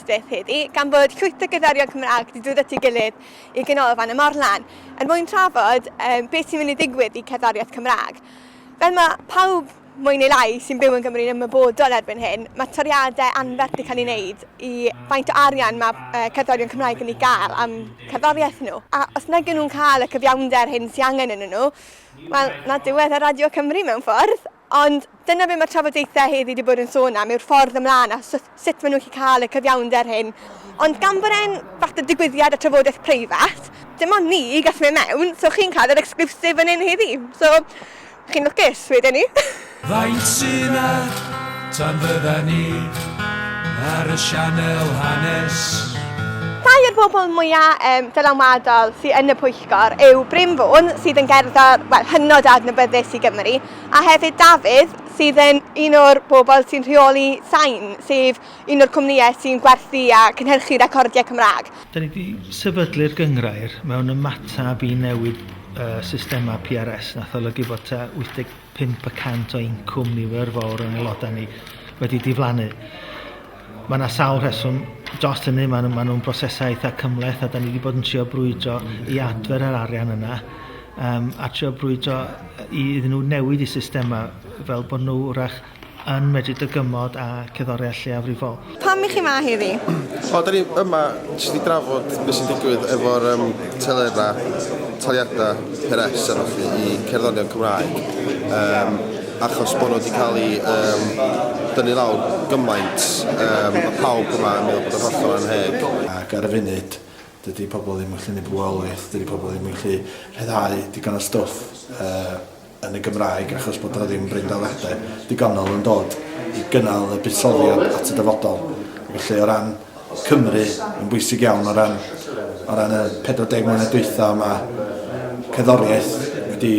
Aberystwyth heddi gan fod llwyth o gerddorion Cymraeg 'di dod at ei gilydd i Ganolfan y Morlan er mwyn trafod um, beth sy'n mynd i ddigwydd i cerddoriaeth Cymraeg. Fel mae pawb mwy neu lai sy'n byw yn Gymru'n ymwybodol erbyn hyn, mae toriadau anferth 'di cael ei wneud i faint o arian mae uh, cerddorion Cymraeg yn ei gael am cerddoriaeth nhw. A os nag nhw'n cael y cyfiawnder hyn sy'n angen yn nhw, wel, na diwedd y Radio Cymru mewn ffordd. Ond dyna be mae trafodaethau heddi 'di bod yn sôn am yw'r ffordd ymlaen a sut sut maen nhw'n gallu cael y cyfiawnder hyn. Ond gan bod e'n fath o digwyddiad a trafodaeth preifat, dim ond ni i gallu mynd mewn, so chi'n cael yr exclusive fan hyn heddi. So, chi'n lwcus, wedwn i. Faint sy 'na tan fydda ni ar y sianel hanes? Rhai o'r bobl mwya yym dylanwadol sy yn y pwyllgor yw Bryn Fôn sydd yn gerddor wel hynod o adnabyddus i Gymru. a hefyd Dafydd sydd yn un o'r bobl sy'n rheoli Sain, sef un o'r cwmnïau sy'n gwerthu a cynhyrchu recordiau Cymraeg. Dan ni 'di sefydlu'r gynghrair mewn ymateb i newid y systemau PRS nath olygu bod tua 85 y cant o incwm nifer fawr o'n aelodau ni wedi diflannu. Mae yna sawl rheswm dros hynny, mae nhw, mae nhw'n brosesau eitha cymleth a da ni wedi bod yn trio brwydro i adfer yr arian yna um, a trio brwydro i iddyn nhw newid i systemau fel bod nhw wrach yn medru dygymod a ceddoriau lleiafrifol. Pam i chi ma heddi? O, da ni yma jyst i drafod beth sy'n digwydd efo'r um, telerau, taliadau, peres a fath i cerddorion Cymraeg. Um, achos bod nhw wedi cael ei um, dynnu lawr gymaint, um, mae pawb yma yn meddwl bod yn hollol anheg. Ac ar y funud, dydy pobl ddim yn gallu gwneud bywoliaeth, dydy pobl ddim yn gallu rhyddhau digon o stwff uh, yn y Gymraeg achos bod yna ddim breindaliadau digonol yn dod i gynnal y buddsoddiad at y dyfodol. Felly o ran Cymru yn bwysig iawn o ran o ran y 40 mlynedd dwytha yma cerddoriaeth wedi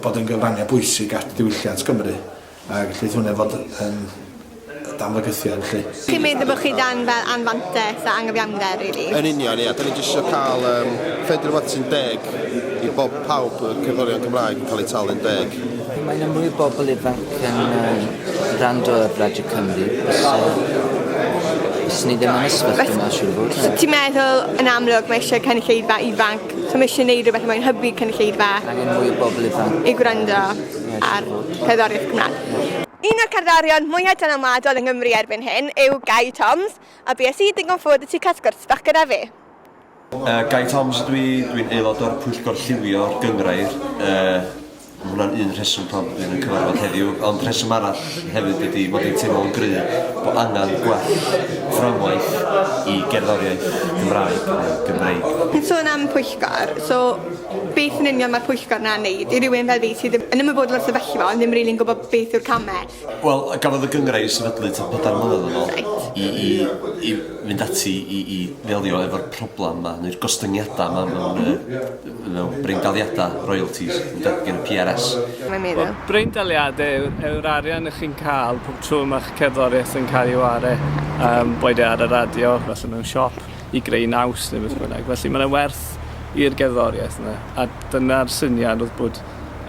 bod yn gyfrangau bwysig at ddiwylliant Cymru a gellid hwnna fod yn dan fygythiad felly. Chi'n meddwl bod chi dan fel anfantes a anghyfiawnder rili? Yn union ia, da ni jyst eisiau cael um, ffeindio'r rhywbeth sy'n deg i bob pawb y cerddorion Cymraeg yn cael eu talu'n deg. Mae 'na mwy o bobl ifanc yn yy gwrando ar Radio Cymru fysa fysa ni ddim yn y sefyllfa yma siŵr o fod. So ti'n meddwl yn amlwg mae eisiau cynulleidfa ifanc, so mae eisiau gwneud rhywbeth mae'n hybu cynulleidfa? Angen mwy o bobl ifanc. I gwrando ar cerddoriaeth Cymraeg. Un o'r cerddorion mwyaf dylanwadol yng Nghymru erbyn hyn yw Gai Toms, a bues i ddigon ffodus i cael sgwrs bach gyda fe. Gai Thoms ydw i, dwi'n aelod o'r Pwyllgor Lliwio'r Gynghrair. Mae hwnna'n un rheswm pam dwi yn cyfarfod heddiw, ond rheswm arall hefyd ydy mod i'n teimlo'n gry bod angen gwell fframwaith i gerddoriaeth Cymraeg neu Gymreig. Yn sôn am pwyllgor, so beth yn union mae'r pwyllgor 'na'n neud? I rywun fel fi sydd yn ymwybodol o'r sefyllfa ond ddim rili'n gwybod beth yw'r camau. Wel, gafodd y gynghrair ei sefydlu tua pedair mlynedd yn ôl... Reit. ...i i i fynd ati i i ddelio efo'r problem 'ma neu'r gostyngiada 'ma mewn yy mewn breindaliada royalties ynde gin y PRS. Mae'n meddwl. Wel, breindaliade yw yw'r arian 'ych chi'n ca'l pob tro ma'ch cerddoriaeth yn ca'l 'i ware, yym boed e ar y radio, falle mewn siop, i greu naws ne' beth bynnag, felly ma' 'na werth i'r gerddoriaeth yna, a dyna'r syniad o'dd bod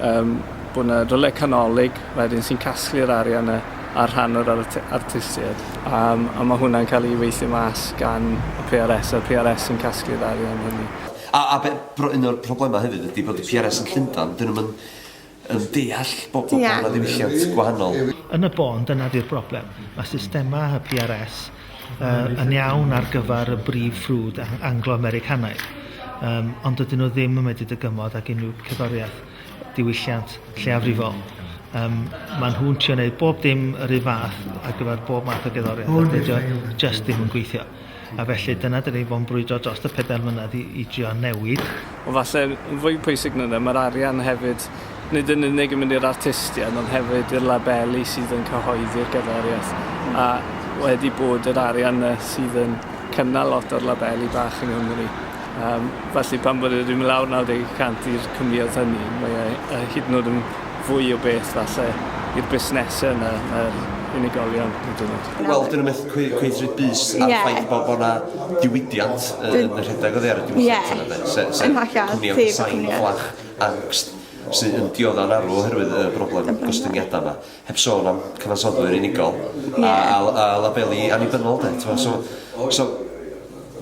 yym bod 'na rywle canolig wedyn sy'n casglu'r arian 'na ar rhan o'r ar- t- artistied a yym a ma' hwnna'n ca'l 'i weithio mas gan y Pee Are Ess a'r Pee Are Ess sy'n casglu'r arian hynny. A a be' bro- un o'r problema hefyd ydi bod y Pee Are Ess yn Llundan 'dyn nw'm yn yn deall bo' bo' bo' 'na ddiwylliant gwahanol. Yn y bôn dyna 'di'r broblem. Ma' systema y Pee Are Ess yy yn iawn ar gyfer y brif ffrwd a- Anglo-Americanaidd yym ond dydyn nhw ddim yn medru dygymod ag unrhyw cerddoriaeth diwylliant lleiafrifol. Yym ma' nhw'n trio neud bob dim yr un fath ar gyfer bob math o gerddoriaeth a dydi o jyst ddim yn gweithio. A felly dyna 'dan ni 'di bod yn brwydro drost y pedair mlynedd i i drio newid Ond falle yn fwy pwysig na 'na, mae'r arian hefyd nid yn unig yn mynd i'r artistiaid ond hefyd i'r labeli sydd yn cyhoeddi'r gerddoriaeth. A wedi bod yr arian 'na sydd yn cynnal lot o'r labeli bach yng Nghymru. Um, felly pan bod e wedi mynd lawr 90 y cant i'r cwmnïaeth hynny, mae e e hyd yn oed yn fwy o beth falle i'r busnesau na na'r unigolion hyd yn oed. Wel, dyn nhw'n methu cweith, cweith rhaid bus ar yeah. ffaith bod bod yna diwydiant yn y rhedeg o ddear y diwylliant yeah. yna, de. Se, se, cwmni am sain fflach angst sy'n yn diodda'n arw oherwydd y broblem gostyngiadau yma. Heb sôn am cyfansoddwyr unigol yeah. a, a, a labelu annibynnol, de. Twa, so, so,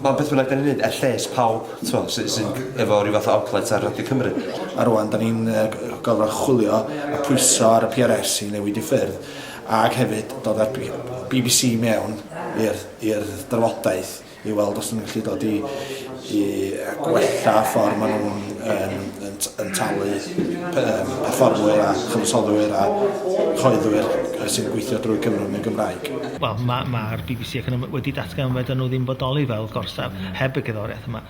Mae'n beth bynnag da ni'n neud, er lles pawb twa, sy, sy'n efo rhyw fath o outlet ar Radio Cymru. A rwan, da ni'n uh, gorfod chwilio a pwyso ar y PRS i newid i ffyrdd Ac hefyd dod â'r bbc i mewn i'r drafodaeth i weld os ydyn nhw'n gallu dod i gwella'r ffordd maen nhw'n talu perfformwyr a chyfansoddwyr a chyhoeddwyr sy'n gweithio drwy Cymru yn y Gymraeg. Wel, mae'r bbc ac yn wedi datgan fedrwn nhw ddim bodoli fel gorsaf heb y cerddoriaeth yma.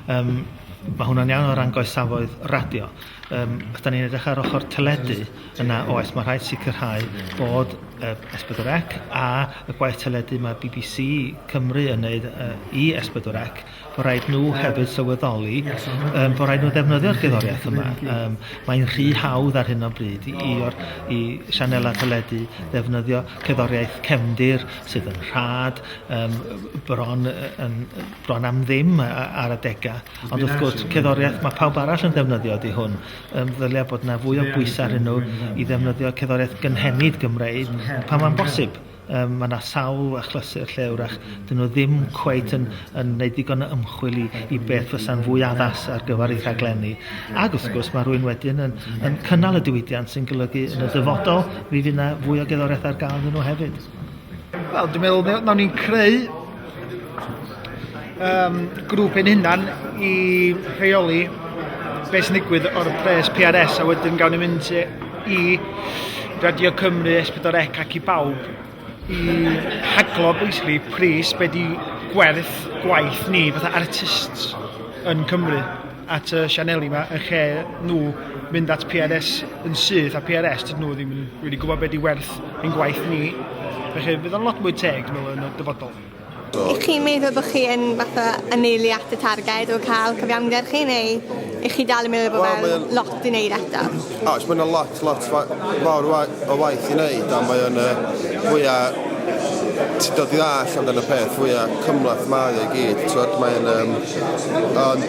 Mae hwnna'n iawn o ran goesafoedd radio. Yym os dan ni'n edrych ar ochr teledu yna oes ma' rhaid sicrhau bod yy Es Pedwar Ec a y gwaith teledu ma' Bee Bee See Cymru yn neud yy i Es Pedwar Ec bo' raid nw hefyd sylweddoli yym bo' raid nw ddefnyddio'r gerddoriaeth yma yym mae'n rhy hawdd ar hyn o bryd i i o'r i sianela teledu ddefnyddio cerddoriaeth cefndir sydd yn rhad yym bron yy yn bron am ddim a- a- ar adega Ond wrth gwrs, cerddoriaeth, mae pawb arall yn ddefnyddio di hwn. Um, ddylia bod yna fwy o bwysau ar nhw i ddefnyddio cerddoriaeth gynhenid Gymreig pan mae'n bosib. Um, mae yna sawl achlysur lle wrach dyn nhw ddim cweit yn, yn gwneud digon o ymchwil i, i beth fysa'n fwy addas ar gyfer ei rhaglenni. Ac wrth gwrs mae rhywun wedyn yn, yn cynnal y diwydiant sy'n golygu yn y dyfodol mi fydd yna fwy o gerddoriaeth ar gael iddyn nhw hefyd. Wel, dwi'n meddwl, fe- nawn ni'n creu um, grŵp ein hunan i rheoli beth sy'n digwydd o'r pres PRS a wedyn gawn ni mynd i Radio Cymru, Esbydor Ec ac i bawb i haglo basically pris be di gwerth gwaith ni fatha artists yn Cymru. at y sianeli yma yn lle nhw mynd at PRS yn syth a PRS dydyn nhw ddim yn really gwybod beth di werth ein gwaith ni. Felly bydd o'n lot mwy teg yn ôl yn y dyfodol. I chi meddwl bod chi yn fatha yneulu at y targed o cael cyfiawnder chi neu i chi dal yn meddwl bod well, fel lot i wneud eto? Oes, mae yna lot, lot fawr o waith i wneud, a mae o'n uh, fwya... Ti'n dod i ddall amdano y peth, fwya cymlaeth mae o i gyd, ti'n mae o'n... Um, ond,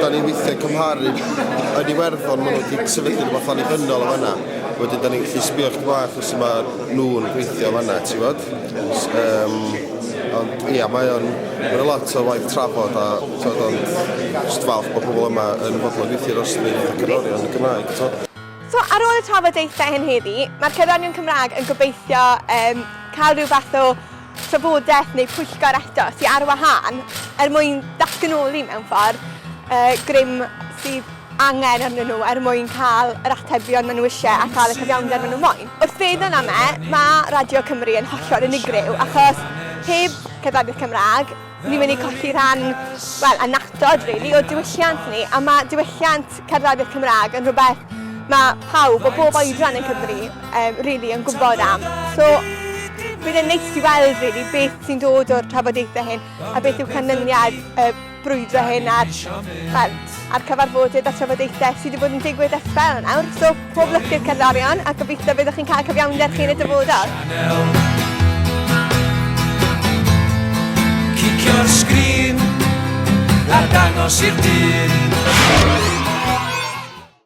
da ni'n weithiau cymharu yn Iwerddon, maen nhw wedi sefydlu rhywbeth annibynnol o fanna. Wedyn, da ni'n gallu sbio chdi bach os yma nhw'n gweithio fanna, ti'n fod? Ond ia, mae o'n mae o'n lot o waith trafod a t'od ond jyst falch bod pobl yma yn fodlon gweithio dros y rhif o gerddorion yn Gymraeg t'od? So ar ôl y trafodaethau hyn heddi, mae'r cerddorion Cymraeg yn gobeithio yym cael rhyw fath o trafodaeth neu pwyllgor eto sy ar wahân er mwyn datganoli mewn ffordd yy grym sydd angen arnyn nhw er mwyn cael yr atebion maen nhw eisiau a chael y cyfiawnder maen nhw'n moyn. Wrth feddwl am e, mae Radio Cymru yn hollol unigryw achos heb Cerddoriaeth Cymraeg ni'n mynd i colli rhan, wel, annatod rili, o diwylliant ni a mae diwylliant cerddoriaeth Cymraeg yn rhywbeth mae pawb o bob oedran yn Cymru um, rili yn gwybod am. So, bydd e'n neis i weld rili beth sy'n dod o'r trafodaethau hyn a beth yw canlyniad y brwydro hyn ar, wel, ar cyfarfodydd a trafodaethau sydd wedi bod yn digwydd ers sbel nawr. So, pob lwc i'r cerddorion a gobeithio byddwch chi'n cael cyfiawnder chi yn y dyfodol. Cicio'r sgrin a dangos i'r dyn